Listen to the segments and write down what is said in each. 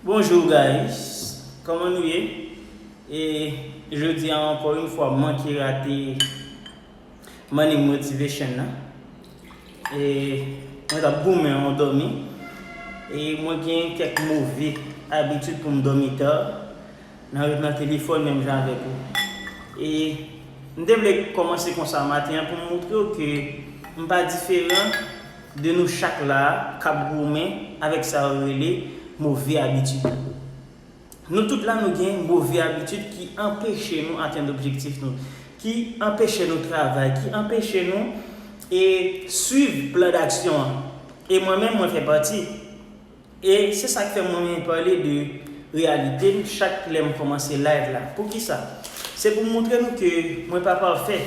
Bonjour guys Koman nou ye e jodi an ankò yon fwa manke rate Morning Motivation nan e mwen tap goumen an dòmi e mwen gen kèk move abitid pou m dòmi ta Nan ret nan telefòn menm jan avèk ou. E m te vle kòmanse konsa maten an pou m moutre w ke m pa diferan de nou chak la a k ap goumen avèk sa yo rele move abitid. Nou tout la nou gen move abitid ki anpeche nou atenn objektif nou, ki anpeche nou travay, ki anpeche nou e swiv plan daksyon an. E mwen menm mwen fè pati. E se sak fè mwen renmen pale de reyalite m chak lè m kòmanse live la. Poukisa? Se pou m montre nou ke mwen pa pafè.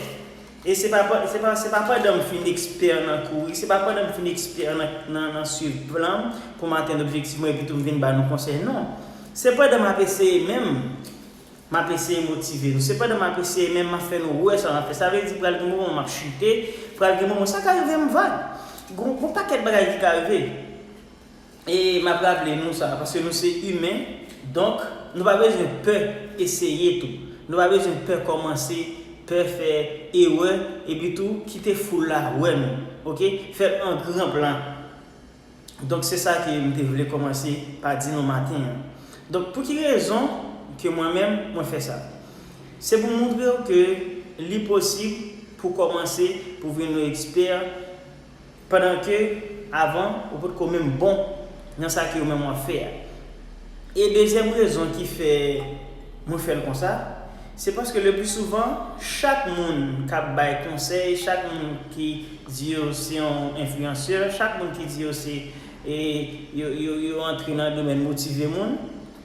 E se pa se pa pandan m fin ekspè nan kouri, se pa pandan m fin ekspè nan swiv plan m pou m atenn objektif mwen epitou m vin ba nou konsèy non. Se pandan m ap eseye menm m ap eseye motive nou. Se pandan m ap eseye menm m ap fè nou wè sa m ap fè. Sa vle di pral gen moman m ap chite, pral gen moman sa ka rive m vag. Gon pakèt bagay ki ka rive. E map raple nou sa paske nou se imen donk nou pa bezwen pè eseye tou. Nou pa bezwen pè kòmanse, pè fè erè epi tou kite foul la wè nou ok. Fèl an gran plan. Donk se sa ke m te vle kòmanse pa di nou maten an. Donk pou ki rezon ke mwen menm mwen fè sa? Se pou moutrew ke li posib pou kòmanse pou vin yon ekspè. Pandan ke, avan, ou potko menm bon nan sa ke ou menm wap fè a. E dezyèm rezon ki fè mwen fèl konsa, se paske le pli souvan, chak moun kap bay konsèy, chak moun ki di yo se yon enfliyansè, chak moun ki di yo se yo antre nan domèn motive moun,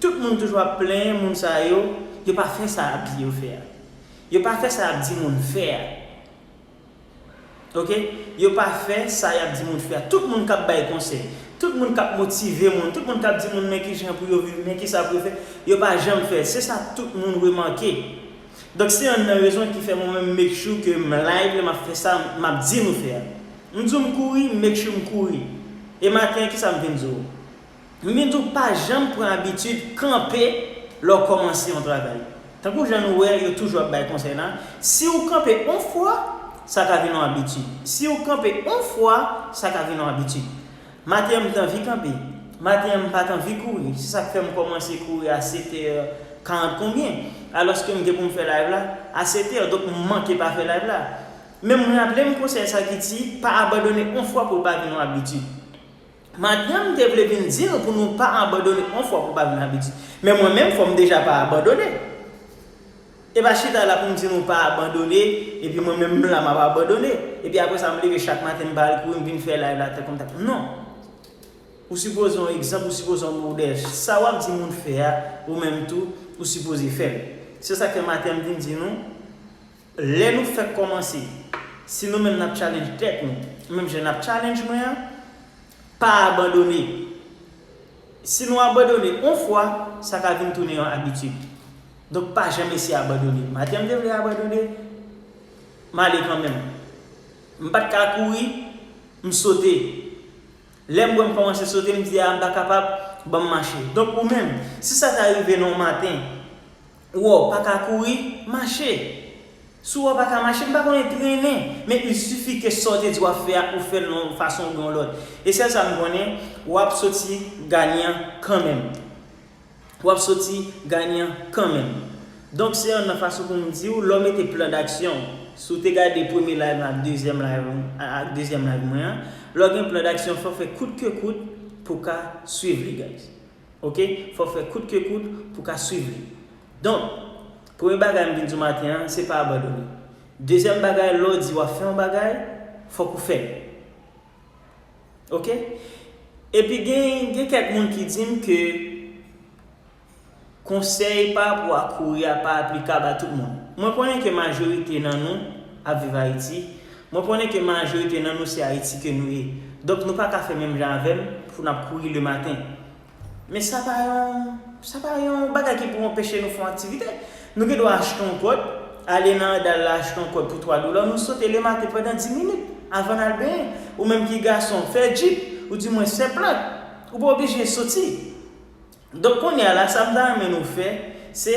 tout moun toujou ap plenyen moun sa yo, yo pa fè sa ap di yo fè a. Yo pa fè sa ap di moun fè a. Ok yo pa fè sa yap di moun fè a tout moun kap bay konsèy tout moun kap motive moun tout moun kap di moun men kijan pou yo viv men kisa pou yo fè yo pa janm fèl se sa tout moun remake donk se yonn nan rezon ki fè mwen menm make sure ke m live map fè sa map di nou fè a m di w m kouri make sure m kouri e maten an kisa m vin di w Nou gen tou pa janm pran abitid kanpe lè w kòmanse yon travay. Tankou jan nou wè yo toujou ap bay konsèy la, si ou kanpe on fwa, sa ka vin on abitid. Si ou kanpe on fwa, sa ka vin on abitid. Maten an m t anvi kanpe. Maten an m pa t anvi kouri. Se sa k fè m kòmanse kouri a setè karant konbyen. Alòske m gen pou m fè layv la a setè. Donk m manke pa fè layv la. Men m raple m konsèy sa ki di, pa abandone on fwa pou l pa vin on abitid. Madanm te vle vin di nou pou nou pa abandone on fwa pou pa vin abitid. Men mwen menm fò m deja pa abandone. E pa chita la pou m di nou pa abandone epi mwen menm m la m ap abandone. Epi apre sa m leve chak maten m pa al kouri m vin fè live la tankou m ta. Non. Ou sipoze on egzanp, ou sipoze on modèl. Sa w ap di moun fè a, ou menm tou, ou sipoze fè l. Se sa k fè maten m vin di nou. Lè nou fèk kòmanse, si nou menm nap challenge tèt nou, menm jan nap challenge mwen an, pa abandone. Si nou abandone on fwa, sa ka vin tounen yon abitid. Donk pa janm esye abandone. Maten m te vle abandone, m ale kanmenm. M pat ka kouri, m sote. Lè m wè m kòmanse sote, m di a m pa kapab, banm mache. Donk ou menm, si sa ta rive nan w maten, Wò paka kouri, mache. Si wò paka mache, m pa konnen, trennen. Men il suffit ke sa w te di w ap fè a, ou fè l nan yon fason oubyen yon lòt. E sèl sa m konnen, w ap soti ganyan kanmenm. W ap soti ganyan kanmenm. Donk se yon nan fason pou m di w, lè w mete plan daksyon w, si w te gade premye live mwen ak dezyèm live mwen, ak dezyèm live mwen an, lè w gen plan daksyon fò w fè kout ke kout pou w ka swiv li guys. Ok fòw fè kout ke kout pou ka swiv li donk premye bagay m vin di w maten an se pa abandone dezyèm bagay lè w di wap fè yon bagay fòk ou fèl ok epi gen kèk moun ki di m ke konsèy pa rapò a kouri a pa aplikab a tout moun mwen konnen ke majorite nan nou ap viv ayiti Mwen konnen ke majorite nan nou se Ayiti ke nou ye, donk nou pa ka fè menm jan avè m pou n ap kouri le maten. Men sa pa yon, sa pa yon bagay ki pou anpeche nou fè yon aktivite. Nou gen dwa achte yon kòd, ale nan andal la achte yon kòd pou 3 dola, nou sote le maten pandan 10 minit, avan n al benyen. Ou menm ki gason, fè jip, ou di mwen se plant, ou pa oblije soti. Donk kounye a la, sa m ta renmen nou fè, se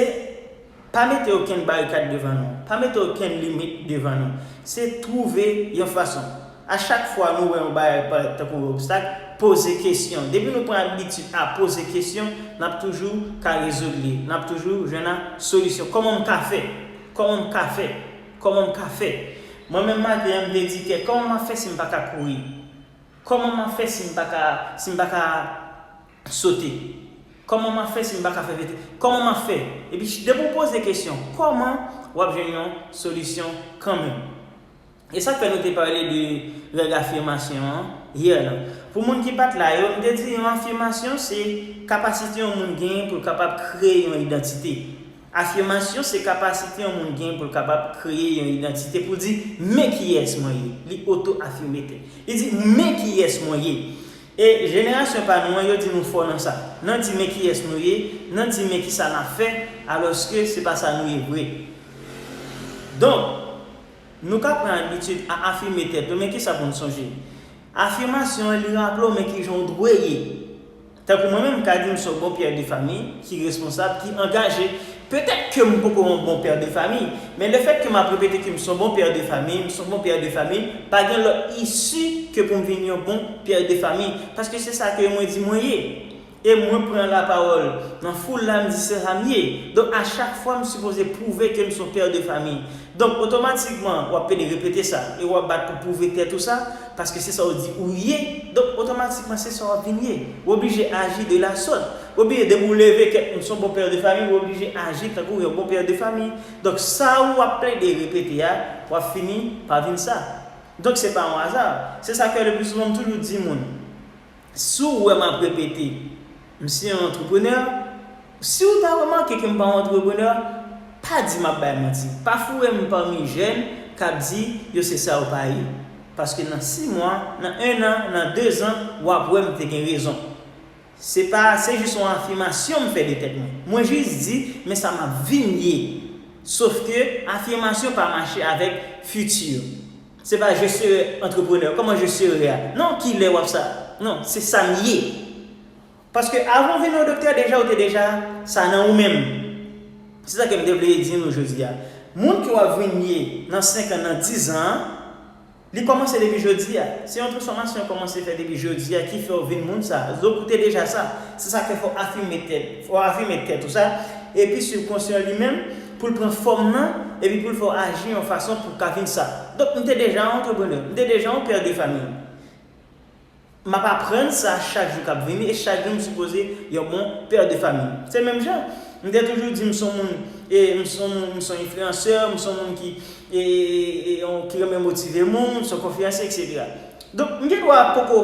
pa mete okenn barikad devan nou, pa mete okenn limit devan nou. Se twouve yon fason. A chak fwa nou wè yon bagay k parèt tankou yon obstak, poze kesyon. Depi nou pran abitid a poze kesyon, n ap toujou ka rezoud li. N ap toujou jwenn a solisyon. Kòman m ka fè? Kòman m ka fè? Kòman m ka fè? Mwen menm maten an, m te di kè, kòman m ap fè si m pa ka kouri? Kòman m ap fè si m pa ka, si m pa ka. Sote. Koman map fè si m paka fè vete. Koman map fè. Epi depi ou poze kesyon koman wap jwenn yon solisyon kanmenm. E sak fè nou te pale de règ afimasyon an hier la. Pou moun ki pat la yo, m te di yon afimasyon se kapasite yon moun genyen pou l kapab kreye yon idantite. Afimasyon se kapasite yon moun genyen pou l kapab kreye yon idantite pou l di men kiyès mwen ye. Li oto afime tel. Li di men kiyès mwen ye. E jenerasyon pa nou an yo di nou fò nan sa. Nan di men kiyès nou ye, nan di men kisa nap fè, alòske se pa sa nou ye vre. Donk, nou ka pran abitid a afime tèt nou men kisa pou n sonje. Afimasyon an li raple w men kijan w dwe ye. Tankou mwen menm m ka di m son bon pè de fami ki responsab, ki angaje, Petèt ke m poko yon bon père de famille, men le fèt ke m ap repete ke m son bon père de famille, m son bon père de famille, pa gen lòt isi ke pou m vin yon bon père de famille, paske se sa ke mwen di mwen ye. E mwen pran lapawòl nan foul la m di se sa m ye. Donk a chak fwa m sipoze pwouve ke m son père de famille. Donk otomatikman w ap pede repete sa e w ap bat pou pwouve tèt ou sa, Paske se sa ou di ou ye, donk otomatikman se sa w ap vin ye. Ou oblije aji de la sòt. Ou oblije depi ou leve tèt ou, ou se yon bon père de famille, ou oblije aji tankou yon bon père de famille. Donk sa ou ap plede repete a, w ap fini pa vin sa. Donk se pa yon aza. Se sa k fè le plus souvan m toujou di moun. Si w wè m ap repete, m se yon antreprenè, si w ta remake ke m pa yon antreprenè, pa di m ap bay manti. Pa foure m pami jèn k ap di yo se sa yo pa ye. Paske nan si mwa, nan ennan, nan dezan, w ap wè m te gen rezon. Se pa, se jis yon afimasyon m fè de tèt mwen. Mwen jis di, men sa m ap vin ye. Sof ke afimasyon pa mache avèk fiti. Se pa je sere entrepreneur koman je sere a non kilè wap sa non se sam ye paske avan ou vin yon doktè deja ou te deja sa nan ou menm se sa kem te vle di nou jodi a moun ke wap vin ye nan 5 an nan 10 zan an li komanse depi jodi a se yon transfomasyon ou komanse fè depi jodi a ki fè ou vin moun sa donk ou te deja sa se sa fè fò afime tèt fò afime tèt ou sa epi sibkonsyan li menm pou l pran fòm nan, epi pou l fè w aji yon fason pou w ka vin sa. Donk, m te deja yon antreprenè, m te deja yon père de famille. M ap aprann sa chak jou k ap vini, e chak jou m sipoze yon bon père de famille. Se menm jan, m te toujou di m s on moun, e m s on moun, m s on influenceur, m s on moun ki, e, yon, ki renmen motive moun, m s on konferansye, eksetera. Donk, m gen dwa poko,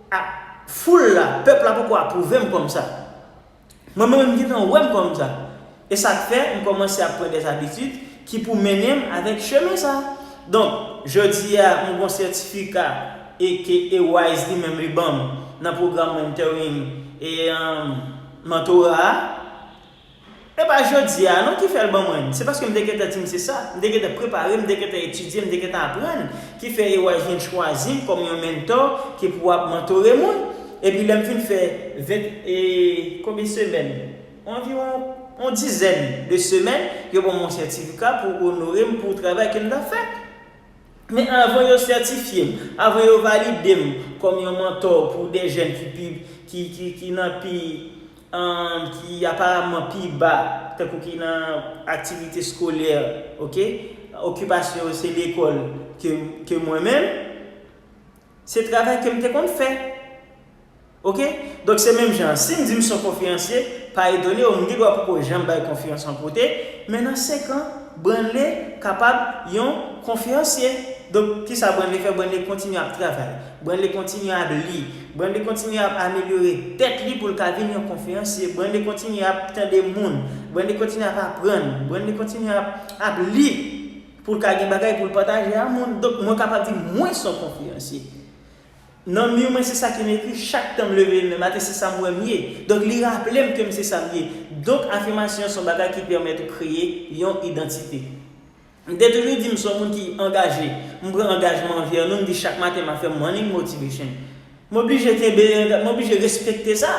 a, foul la, pèp la poko apwouve m kòm sa. Mwen menm m gentan wèm kòm sa. E sak fè m kòmanse ap pran des habitudes ki pou mennenm avèk chemen sa. Donk, jodia m gon sètifika e ke Ewise li menm li banm nan pwogram mentoring e mentora a. E pa jodia non ki fèl ban mwen l. Se paske m te gentan di m se sa. M te gentan prepare, m te gentan etidye, m te gentan aprann ki fè Ewise vin chwazi m kòm yon mentor ki pou ap mentore moun. Epi lè m fin fè vent e konbyen semèn? Anviwon yon dizèn de semèn, yo ban mwen sètifika pou onore m pou travay ke m t ap fè. Men avan yo sètifye m, avan yo valide m kòm yon mantò pou de jèn ki pi, ki, ki, ki nan pi, ki aparamman pi ba, tankou ki nan aktivite skolè, oke, okipasyon yo se lekòl ke, ke mwen menm, Se travay kem te konn fè. Ok donk se menm jan an sim di m son konferansye pa etone w m gen dwa poko janm bay konferans yon kote men nan 5 an Branle kapab yon konferansye donk kisa Branle fè Branle kontinye ap travay Branle kontinye ap li Branle kontinye ap amelyore tèt li pou l ka vin yon konferansye Branle kontinye ap tande moun Branle kontinye ap aprann Branle kontinye ap ap li. Pou l ka gen bagay pou l pataje a moun. Donk, mwen kapab di mwen son konferansye. Nan mi mwen se sa ki m ekri chak tan m leve lemen maten se sa m wè m ye. Donk, li raple m ke m se sa m ye. Donk, afimasyon son bagay ki pèmèt ou kreye yon idantite. M te toujou di m son moun ki angaje. M pran angajman anvè nou, m di chak maten m ap fè morning motivation. M oblije kenbe, m oblije respekte sa.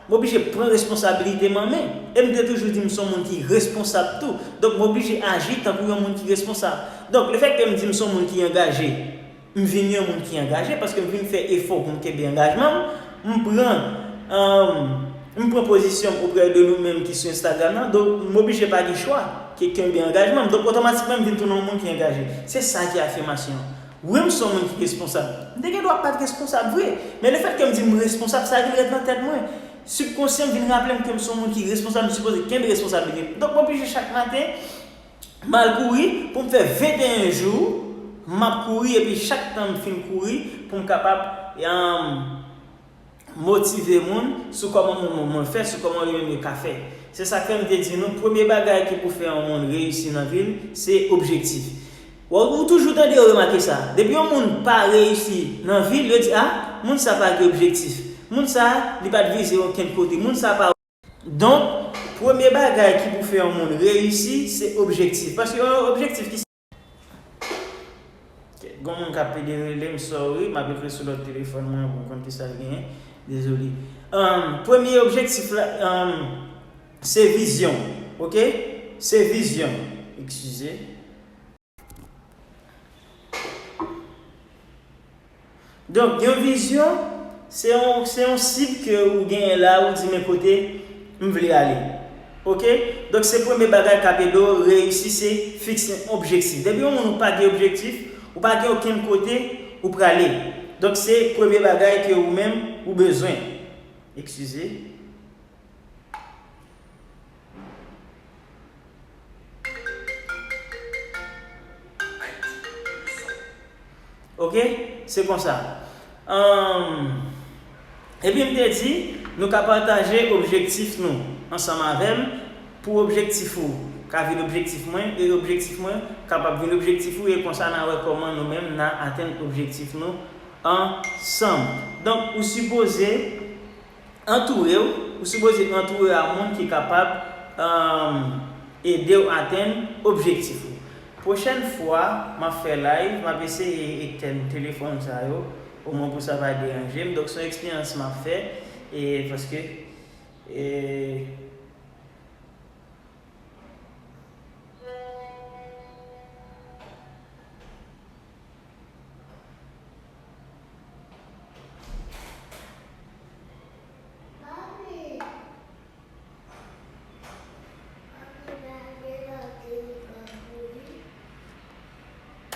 M oblije pran responsabilite m an men. E m te toujou di m son moun ki responsab tou. Donk m oblije aji tankou yon moun ki responsab. Donk lefèt ke m di m son moun ki angaje, m vin yon moun ki angaje paske m vin fè efò pou m kenbe angajman m. M pran, m pran pozisyon m oprè de nou menm ki sou Instagram nan. Donk m oblije pa gen chwa ke kenbe angajman m. Donk otomatikman m vin tounen yon moun ki angaje. Se sa ki afirmasyon an. Wi m s on moun ki responsab. M te gen dwa pa t responsab vre, men lefètke m di m responsab, sa vin ret nan tèt mwen. Sibkonsyan m vin raple m ke m s on moun ki responsab, m sipoze kenbe responsablite m. Donk m oblije chak maten, m al kouri pou m fè 21 jou m ap kouri epi chak tan m fin kouri pou m kapab. motive moun sou kòman moun moun moun fè, sou kòman yo menm yo ka fè. Se sa k fè m te di nou premye bagay ki pou fè yon moun reyisi nan vi l, se objektif. Ou toujou tande yo remake sa, depi yon moun pa reyisi nan vi l, yo di a, moun sa pa gen objektif, moun sa li pa t vize okenn kote, moun sa pa. Donk, premye bagay ki pou fè yon moun reyisi, se objektif. Paske yon objektif ki. Gon moun kap pede relem sorry map ekri sou lòt telefòn mwen pou m konn kisal genyen dezole premye objektif la se vizyon ok se vizyon eskize. Donk yon vizyon se yon se yon sib ke ou genyen la ou di men kote m vle ale ok donk se premye bagay kap ede w reyisi se fikse yon objektif depi yon moun ou pa gen objektif ou pa gen okenn kote ou prale donk se premye bagay ke ou menm ou bezwen eskize. Ok se konsa humm epi m te di nou ka pataje objektif nou ansanm avèm pou objektif ou ka vin objektif mwen e objektif mwen kapab vin objektif ou e konsa na wè kòman nou menm na atenn objektif nou ansanm donk ou sipoze Antoure w, Ou sipoze antoure w a moun ki kapab ede w atenn objektif ou. Pwochèn fwa m ap fè live, m ap eseye etenn telefòn sa yo, omwen pou sa pa deranje m. Donk se yon eksperyans m ap fè paske.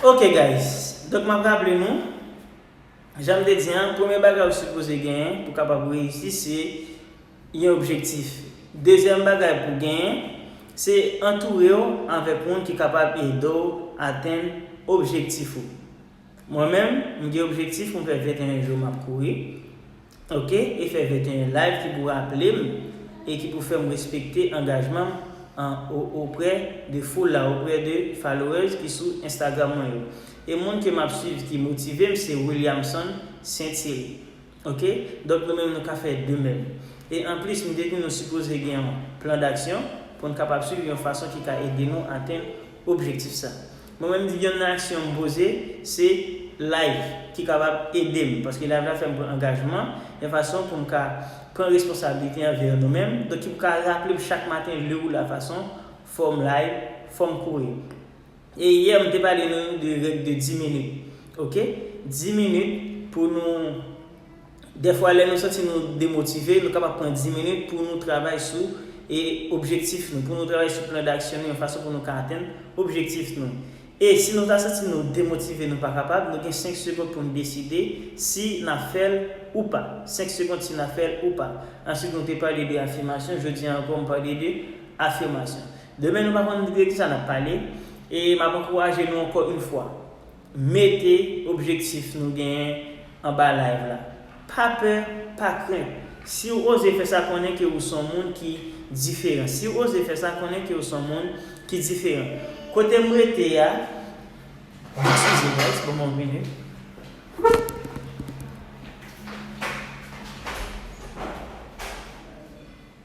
Ok guys, donk map raple nou, janm te di an, premye bagay ou sipoze genyen pou kapab reyisi se yon objektif. Dezyèm bagay pou w genyen, se antoure w avèk moun ki kapab ede w atenn objektif ou. Mwen menm, m gen objektif pou m fè 21 jou m ap kouri, ok, e fè 21 live ki pou raple m e ki pou fè m respekte angajman m an oprè de foul la, oprè de followers ki sou Instagram mwen yo. E moun ke m ap swiv ki motive m se Williamson St-Thierry. Ok donk nou menm nou ka fè de menm. E anplis m te di nou sipoze gen yon plan daksyon pou n kapab swiv yon fason ki ka ede nou atenn objektif sa. Mwen menm m di yon nan aksyon m poze se Live ki kapab ede m paske Live la fè m pran angajman yon fason pou m ka pran responsablite anvè nou menm donk ki pou ka raple m chak maten leu la fason fò m live fò m kouri. E yè m te pale nou de règ de 10 minit ok 10 minit pou nou dèfwa lè nou santi nou demotive nou kapab pran 10 minit pou nou travay sou e objektif nou pou nou travay sou plan daksyon nou yon fason pou nou ka atenn objektif nou e si nou ta santi nou demotive nou pa kapab nou gen 5 segond pou nou deside si n ap fè l ou pa 5 segond si n ap fè l ou pa answit nou te pale de afimasyon jodi an ankò m pale de afimasyon. Demen nou pa konn de kisa nap pale e map ankouraje nou ankò yn fwa mete objektif nou genyen anba live la pa pè pa krent siw oze fè sa konnen ke ou son moun ki diferan siw oze fè sa konnen ke ou son moun ki diferan kotem rete a eskize guys bon mwen vini.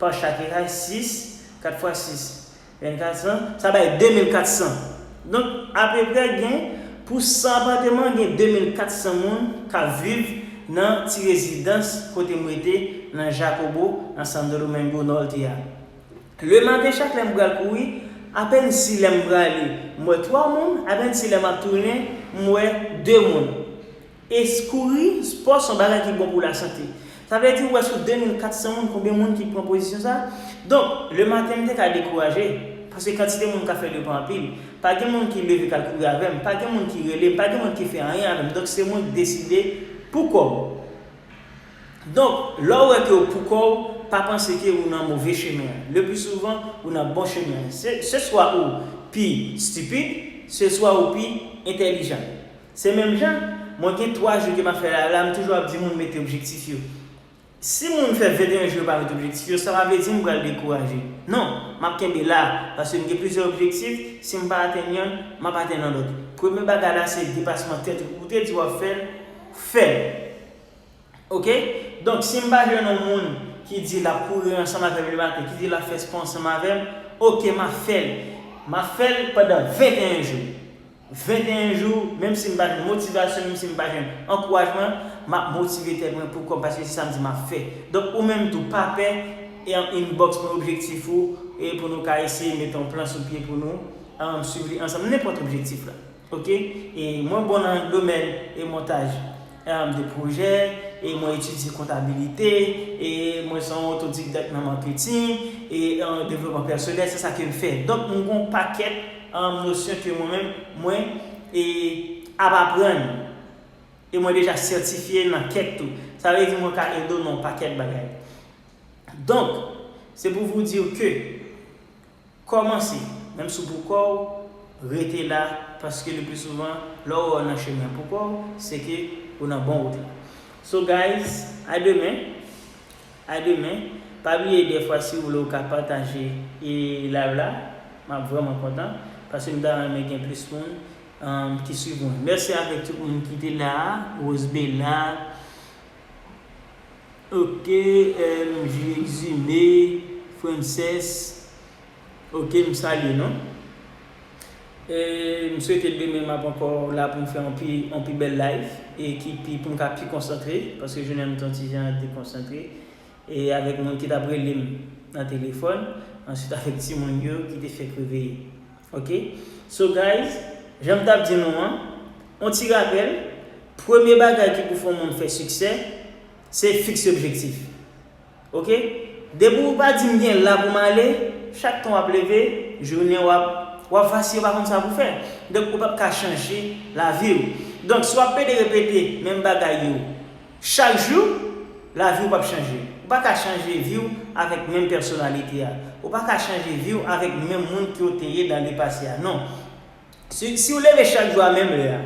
Pa chak eray, 6, 4 fwa 6, 24 san, sa bay 2400. Donk, apeprè gen, pou 100 apateman, gen 2400 moun k ap viv nan ti rezidans kote m rete nan Jacobo, nan Santo Domingo Norte a. Le maten chak lè m pral kouri, apèn si lè m prale, m wè 3 moun, apèn si lè m ap tounen, m wè 2 moun. Eskouri, spò son bagay ki bon pou la sante. Sa vle di ou wè sou 2400 moun konbyen moun ki pran pozisyon sa? Donk, le maten m te ka dekouraje, paske kantite moun k ap fè l yo pa anpil. Pa gen moun ki leve k al kouri avè m, pa gen moun ki rele m, pa gen moun ki fè anyen avè m. Donk se mwen ki deside pou kò m. Donk, lè w wè ke w pou kò w, pa panse ke ou nan move chemen an. Le pli souvan, ou nan bon chemen an. Se swa ou pi stipid, se swa ou pi entèlijan. Se menm jan, mwen gen 3 jou ke map fè live la, m toujou ap di moun mete objektif yo. Si moun fè 21 jou yo pa met objektif yo, sa pa vle di m pral dekouraje. Non, map kenbe la, paske m gen plizyè objektif, si m pa atenn yonn, map atenn yon lòt. Premye bagay la se depasman tèt ou, ou te di wap fèl, fèl. Ok, donk si m pa jwenn yon moun ki di lap kouri ansanm avèm le maten, ki di lap fè spò ansanm avèm, ok map fèl. Map fèl pandan 21 jou. 21 jou, menm si m pa gen motivasyon, menm si m pa jwenn ankourajman, m ap motive tèt mwen pou kòm paske se sa m di m ap fè. Donk ou menm tou pa pè inbox mwen objektif ou e pou nou ka eseye mete yon plan sou pye pou nou swiv li ansanm nenpòt objektif la ok e mwen bon nan domèn e montaj de pwojè, e mwen etidye kontabilite, e mwen se yon otodidakt nan marketing, e devlopman pèsonèl, se sa ke m fè. Donk m gen yon pakèt nosyon ke mwen menm mwen ap aprann, e mwen deja sètifye nan kèk tou. Sa vle di mwen ka ede w nan yon pakèt bagay. Donk, se pou vous dire que. Kòmanse, menm si w pou kò w, rete la, paske le pli souvan, lè w wè w nan chemen pou kò w, se ke ou nan bon wout la. So guys, a demen! A demen! Pa bliye dèfwa si w vle w ka pataje live la, m ap vrèman kontan, paske m ta renmen gen plis moun ki swiv mwen. Mèsi avèk tout moun ki te la a, Rosebella, Ok MJ Exumé Frances ok m salye nou e m swete demen map ankò la poum fè yon pi bèl live e ki pi poum ka pi konsantre paske jounen an m t yon ti jan dekonsantre E avèk moun ki t ap rele m nan telefòn. Answit avèk timoun yo ki te fèk reveye. Ok. So guys, jan m t ap di nou an, on ti rapèl, premye bagay ki pou fè yon moun fè siksè, se fikse objektif. Ok. Depi ou pa di m gen la pou m ale, chak tan w ap leve, jounen w ap, w ap vasiye w pa konn sa pou w fè. Donk ou p ap ka chanje lavi w. Donk si w ap pede repete menm bagay yo. Chak jou, lavi w p ap chanje. Ou pa ka chanje vi w avèk menm pèsonalite a. Ou pa ka chanje vi w avèk menm moun ke w te ye dan le pase a. Non. Si si w leve chak jou a menm lè a,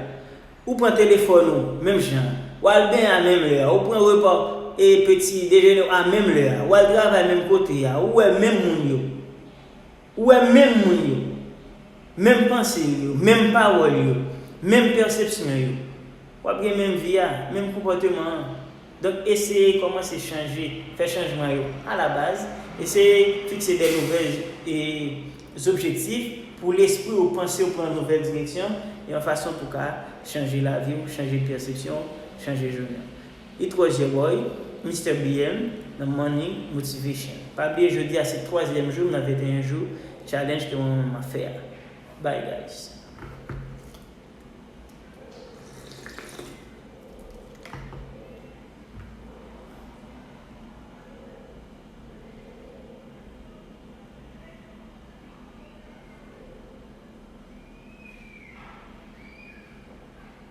ou pran telefòn ou menm jan an, w al benyen a menm lè a, ou pran repa w e peti dejene w a menm lè a, w al travay menm kote a, ou wè menm moun yo, Ou wè menm moun yo, menm panse yo, menm pawòl yo, menm pèsepsyon yo. W ap gen menm vi a, menm konpòteman an. Donk eseye kòmanse chanje, fè chanjman yo a la baz, eseye fikse de nouvèl zobjektif pou lespri ou, panse ou pran nouvèl direksyon yon fason pou ka chanje lavi ou, chanje pèsepsyon ou, chanje jounen ou. Li tro je boy, Mister BM nan money motivation. Pa bliye jodi a se twazyèm jou m nan 21 jou challenge ke mwen menm map fè a. Bye guys.